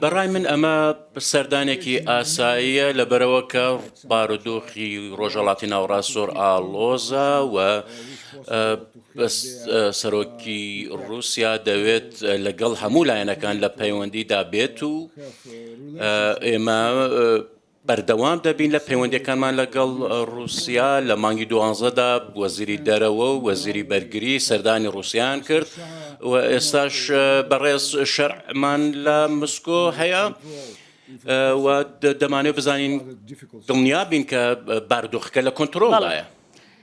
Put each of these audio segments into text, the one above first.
بەڕای من ئەمە سەردانێکی ئاساییە لەبەرەوە کە بارودۆخی ڕۆژەڵاتی ناوڕاست زۆر ئاڵۆزە و سەرۆکی رووسیا دەوێت لەگەڵ هەموو لایەنەکان لە پەیوەندیدا بێت و ئێمە بەردەوام دەبین لە پەیوەندییەکانمان لەگەڵ ڕووسیا، لە مانگی دوانزەدا وەزیری دەرەوە و وەزیری بەرگری سەردانی ڕووسیایان کرد و ئێستاش بەڕێز شەرعمان لە مسکۆ هەیە. و دەمانێت بزانین دڵنیابین کە باردۆخەکە لە کۆنتترۆڵدایە.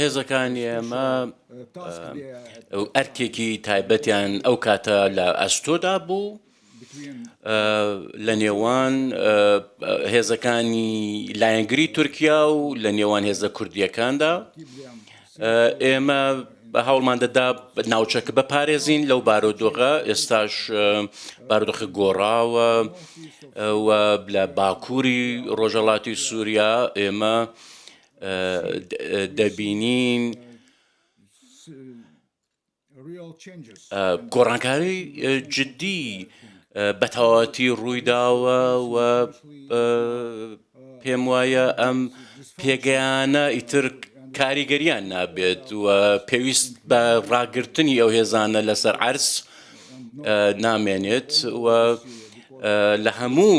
هێزەکانی ئێمە ئەرکێکی تایبەتیان ئەو کاتە لە ئەستۆدا بوو لە نێوان هێزەکانی لایەنگری تورکیا و لە نێوان هێزە کوردیەکاندا ئێمە هەوڵمان دەدا ناوچەکە بپارێزین لەو بارودۆغە ئێستاش بارودۆخە گۆڕاوە و لە باکووری ڕۆژەڵاتی سووریا ئێمە دەبینین گۆڕانکاری جددی بە تەواوەتی ڕوویداوە و پێم وایە ئەم پێگەیانە ئیتر کاریگەریان نابێت و پێویست بە ڕاگررتنی ئەو هێزانە لەسەر عرس نامێنێت و لە هەموو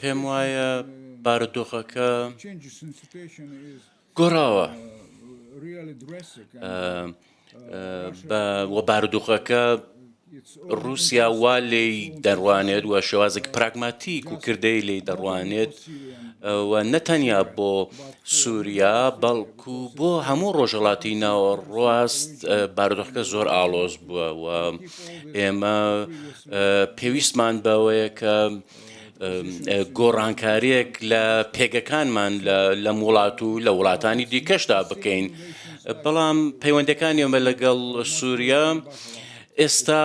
پێم وایە بارودۆخەکە گۆڕاوە وە بارودۆخەکە رووسیا وا لێی دەڕوانێت وە شێوازێک پراگماتیک و کردەی لێی دەڕوانێت و نەتەنیا بۆ سووریا بەڵکو بۆ هەموو ڕۆژهڵاتی ناوەڕاست بارودۆخەکە زۆر ئاڵۆز بووە و ئێمە پێویستمان بەوەیە کە گۆڕانکاریەک لە پێگەکانمان لەم وڵات و لە وڵاتانی دیکەشدا بکەین بەڵام پەیوەندەکانی ئەمە لەگەڵ سووریا ئێستا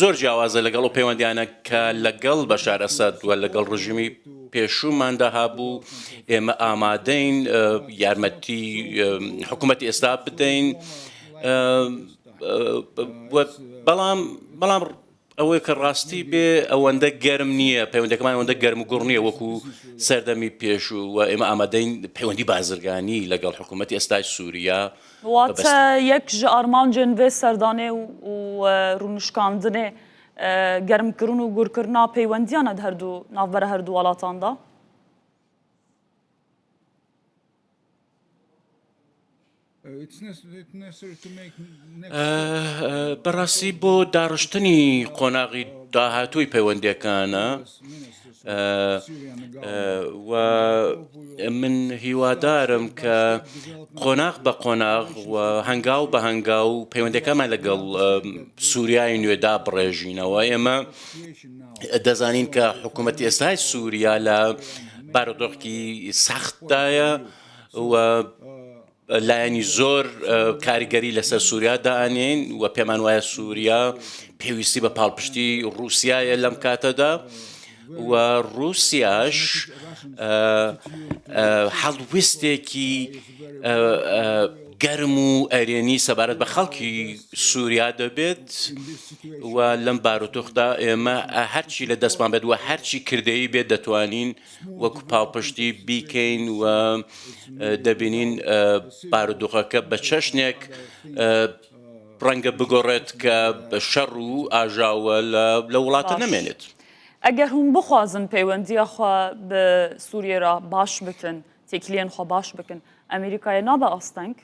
زۆر جیاوازە لەگەڵ و پەیوەندیانە کە لەگەڵ بە شارەسەد و لەگەڵ ڕژیمی پێشووماندا هابوو ئێمە ئامادەین یارمەتی حکوومەت ئێستا بدەین. بەڵام بەڵام ئەوەی کە ڕاستی بێ ئەوەندە گەرم نییە پەیوەندەکەمان ئەوەندە گەرم و گوڕ نییە وەکو سەردەمی پێشوو و ئێمە ئامادەین پەیوەندی بازرگانی لەگەڵ حکوومەتتی ئێستای سووریا واتە یەک ژە ئارمانجێن بێ سەردانێ و ڕونشکاندنێ گەرمکردن و گورکردنا پەیوەندیانە هەردوو ناوبەرە هەردوو وڵاتاندا بەڕاستی بۆ داڕشتنی قۆناغی داهاتووی پەیوەندەکانە و من هیوادارم کە قۆناغ بە قۆناغ و هەنگاو بە هەنگا و پەیوەندەکەمان لەگەڵ سووریای نوێدا بڕێژینەوە ئێمە دەزانین کە حکوومەت ئێستای سووریا لە بارودۆخی سەختدایە و لایەنی زۆر کاریگەری لەسەر سووریا دانین و پێمان وایە سووریا پێویستی بە پاڵپشتی رووسایە لەم کاتەدا و رووسیاش حەڵویستێکی گەرم و ئەرێنی سەبارەت بە خەڵکی سووریا دەبێت و لەم بارودۆخدا ئێمە هەرچی لە دەستمان بێت و هەرچی کردەی بێت دەتوانین وەک پاڵپشتی بیکەین و دەبینین بارودۆخەکە بە چەشنێک ڕەنگە بگۆڕێت کە بە شەڕ و ئاژاوە لە وڵاتە نەمێنێت. ئەگەر هوم بخوازن پەیوەندیە خوا بە سووریێ را باش بکن تێکلێن خوا باش بکن ئەمریکایە نابە ئاستەنگ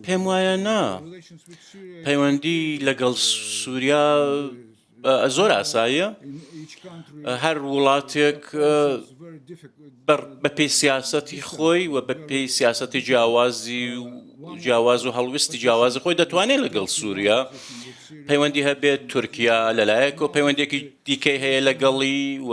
پێم وایە نا پەیوەندی لەگەڵ سووریا زۆر ئاساییە هەر وڵاتێک بە پێی سیاسەتی خۆی و بە پێی سیاسەتی جیاوازی و جیاواز و هەڵویستی جیاوازی خۆی دەتوانێت لەگەڵ سووریا پەیوەندی هەبێت تورکیا لەلایەک و پەیوەندێکی دیکەی هەیە لەگەڵی و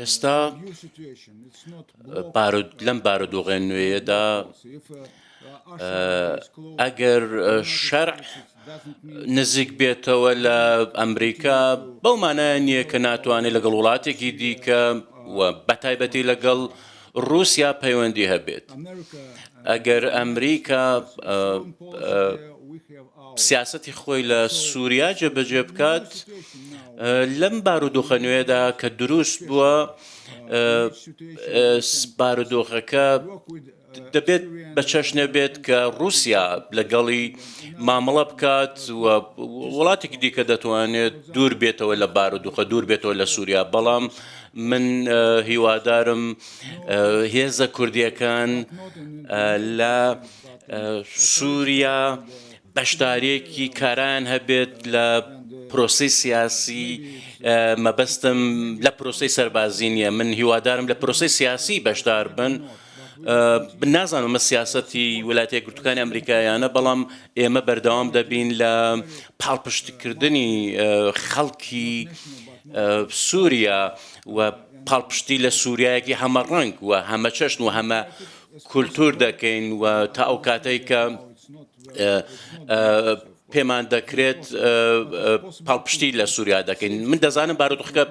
ئێستا لەم بارودۆغێن نوێیەدا ئەگەر شەرع نزیک بێتەوە لە ئەمریکا بەو مانایە نییە کە ناتوانێت لەگەڵ وڵاتێکی دیکە و بەتایبەتی لەگەڵ رووسیا پەیوەندی هەبێت ئەگەر ئەمریکا سیاستی خۆی لە سووریا جێبەجێ بکات لەم بارودۆخە نوێدا کە دروست بووە بارودۆخەکە دەبێت بە چەشنێ بێت کە ڕووسیا لەگەڵی مامەڵە بکات و وڵاتێکی دیکە دەتوانێت دوور بێتەوە لە بارودوخە دوور بێتەوە لە سووریا بەڵام من هیوادارم هێزە کوردیەکان لە سووریا بەشداریەکی کارایان هەبێت لە پرۆسەی سیاسی مەبەستم لە پرۆسەی سەربازی نییە من هیوادارم لە پرۆسەی سیاسی بەشدار بن نازانم مە سیاستی ولاتە گرتوەکانی ئەمریکایانە بەڵام ئێمە بەردەوام دەبین لە پاڵپشتکردنی خەڵکی سووریا و پاڵپشتی لە سووریایەکی هەمە ڕنگ و هەمە چەشن و هەمە کولتور دەکەین و تا ئەو کاتێک کە پێمان دەکرێت پاڵپشتی لە سووریا دەکەین من دەزانم بارودۆخەکە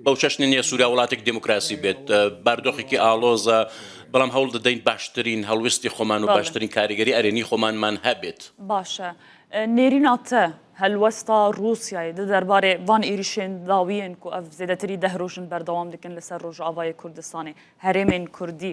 بەو چەشنە نیە سووریا وڵاتێک دموکراسی بێت باردۆخێکی ئاڵۆزە بەڵام هەوڵ دەدەین باشترین هەڵویستی خۆمان و باشترین کاریگەری ئەرێنی خۆمانمان هەبێت باشە نێریناتە هەلوەستا رووسای دە دەربارێ وان ئیریشێن داویێن کو ئەف زێدەتری دەهرۆژن بەردەوام دکن لەسەر ڕۆژاوای کوردستانی هەرێمێن کوردی.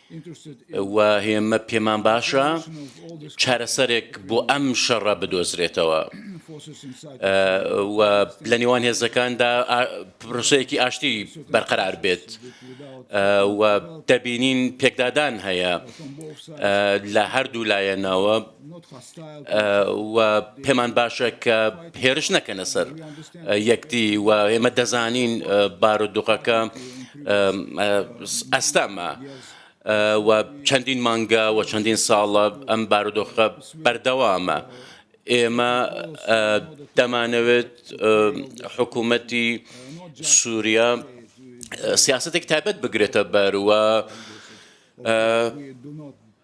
و هێمە پێمان باشە چارەسەرێک بۆ ئەم شەڕە بدۆزرێتەوە و لە نێوان هێزەکاندا پرۆسەیەکی ئاشتی بەرقەرار بێت و دەبینین پێکدادان هەیە لە هەردوو لایەنەوە و پێمان باشە کە هێرش نەکەنە سەر یەکتی و ئێمە دەزانین بارودوقەکە ئەستەمە. و چەندین مانگە و چەندین ساڵە ئەم بارودۆخە بەردەوامە ئێمە دەمانەوێت حکوومەتی سووریا سیاستێک تایبەت بگرێتە بەروە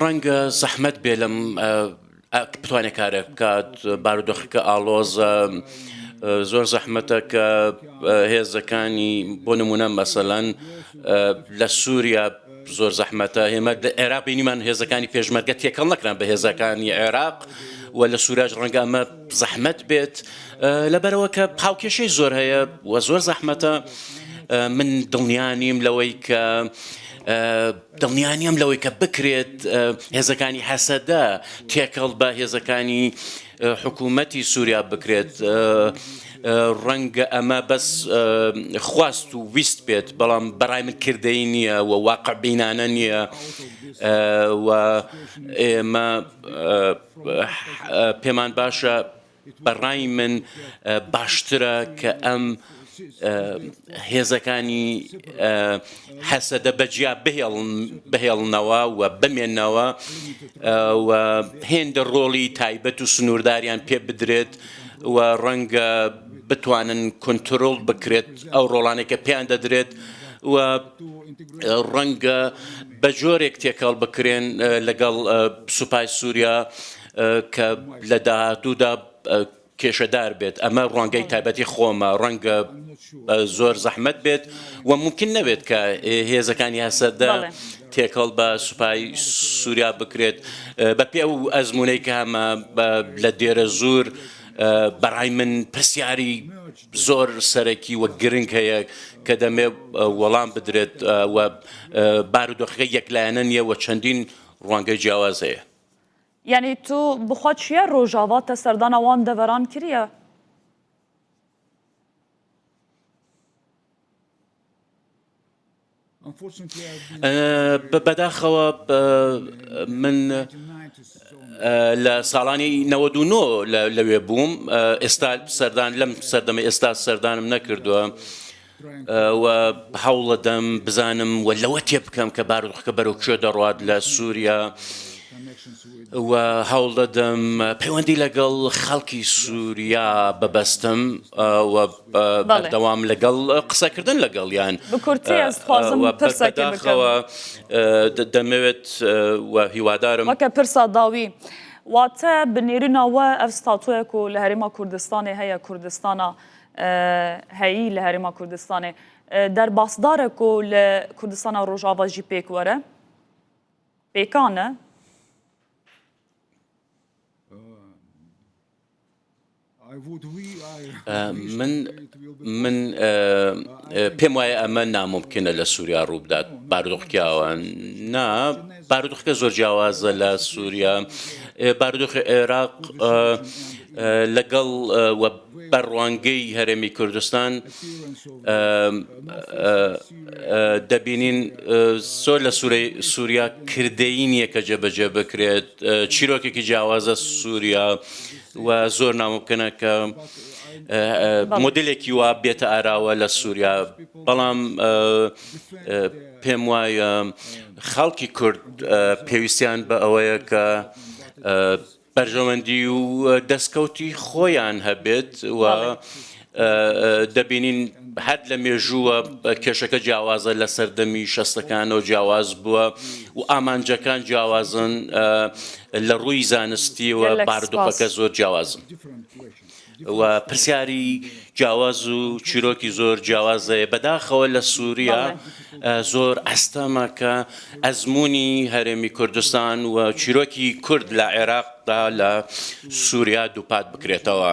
ڕەنگە زەحمەت بێ لەم بتوانێت کارێک بکات بارودۆخەکە ئاڵۆزە زۆر زەحمەتە کە هێزەکانی بۆ نمونە مەسەلەن لە سووریا زۆر زەحمەتە هێمە عێراق بینیمان هێزەکانی پێشمەرگە تێکەڵ نەکران بە هێزەکانی عێراق و لە سوورەش ڕەنگە ئەمە زەحمەت بێت لەبەرەوە کە هاوکێشەی زۆر هەیە و زۆر زەحمەتە من دڵنیانیم لەوەی کە دڵنیانیم لەوەی کە بکرێت هێزەکانی هەسەدە تێکەڵ بە هێزەکانی حکوومەتی سووریا بکرێت ڕەنگە ئەمە بەس خواست و ویست بێت بەڵام بەڕای من کردەی نییە و واقع بینانە نییە و ئێمە پێمان باشە بەڕای من باشترە کە ئەم هێزەکانی حەسەدە بەجیا بهێڵنەوە و بمێنەوە و هێندە ڕۆڵی تایبەت و سنوورداریان پێ بدرێت و ڕەنگە بتوانن کنترۆڵ بکرێت ئەو ڕۆڵانێکە پێیان دەدرێت و ڕەنگە بە جۆرێک تێکەڵ بکرێن لەگەڵ سوپای سووریا کە لە داهاتوودا کێشەدار بێت ئەمە ڕوانگەی تایبەتی خۆمە ڕەنگە زۆر زەحمت بێت و ممکن نەبێت کە هێزەکانی هەسەدە تێکەڵ بە سوپای سووریا بکرێت بە پێ و ئەزمونەی کە هەمە لە دێرە زۆر بەڕای من پرسیاری زۆر سەرەکی و گرنگ هەیە کە دەمێ وەڵام بدرێت و بارودۆخەکە یەکلایەنە نییە و چەندین ڕوانگەی جیاواز هەیە. یعنی تو بخوا چیە رۆژاڤا تە سەردانە وان دەڤەران کریە؟ بەداخەوە من لە ساڵانی 99 لەوێ بووم ئێستا سەردان لەم سەردەمە ئێستا سەردانم نەکردووە. و هەوڵەدەم بزانم و لەوە تێ بکەم کە بارودۆخەکە بەرەو کوێ دەڕات لە سووریا و هەوڵ دەدەم پەیوەندی لەگەڵ خەڵکی سووریا ببەستم و بەردەوام لەگەڵ قسەکردن لەگەڵیان بەداخەوە دەمەوێت هیوادارم وەکە پرسا داوی. واتە بنێرنەوە ئەف ستاتۆیەک و لە هەرێما کوردستانی هەیە کوردستانە هەیی لە هەرێما کوردستانێ دەرباسدارێک و لە کوردستانە ڕۆژاواژی پێک وەرە پێکانە من پێم وایە ئەمە ناممکنە لە سووریا ڕووبدات بارودۆخکیاوە نا بارودۆخەکە زۆر جیاوازە لە سووریا بارودۆخی عێراق لەگەڵ بە ڕوانگەی هەرێمی کوردستان دەبینین سۆر لە سوورەی سووریا کردەین یەکە جێبەجێ بکرێت چیرۆکێکی جیاوازە سووریا و زۆر نامۆ بکەنە کە مدلێکی وا بێتە ئاراوە لە سووریا بەڵام پێم وایە خەڵکی کورد پێویستیان بە ئەوەیە کە بەرژەوەندی و دەستکەوتی خۆیان هەبێت و دەبینین هەر لە مێژووە کێشەکە جیاوازە لە سەردەمی شەستەکانەوە جیاواز بووە و ئامانجەکان جیاوازن لە ڕووی زانستیەوە باردۆخەکە زۆر جیاوازن و پرسیاری جیاواز و چیرۆکی زۆر جیاوازەیە بەداخەوە لە سووریا زۆر ئەستەمە کە ئەزمموی هەرێمی کوردستان و چیرۆکی کورد لە عێراقدا لە سووریا دووپات بکرێتەوە.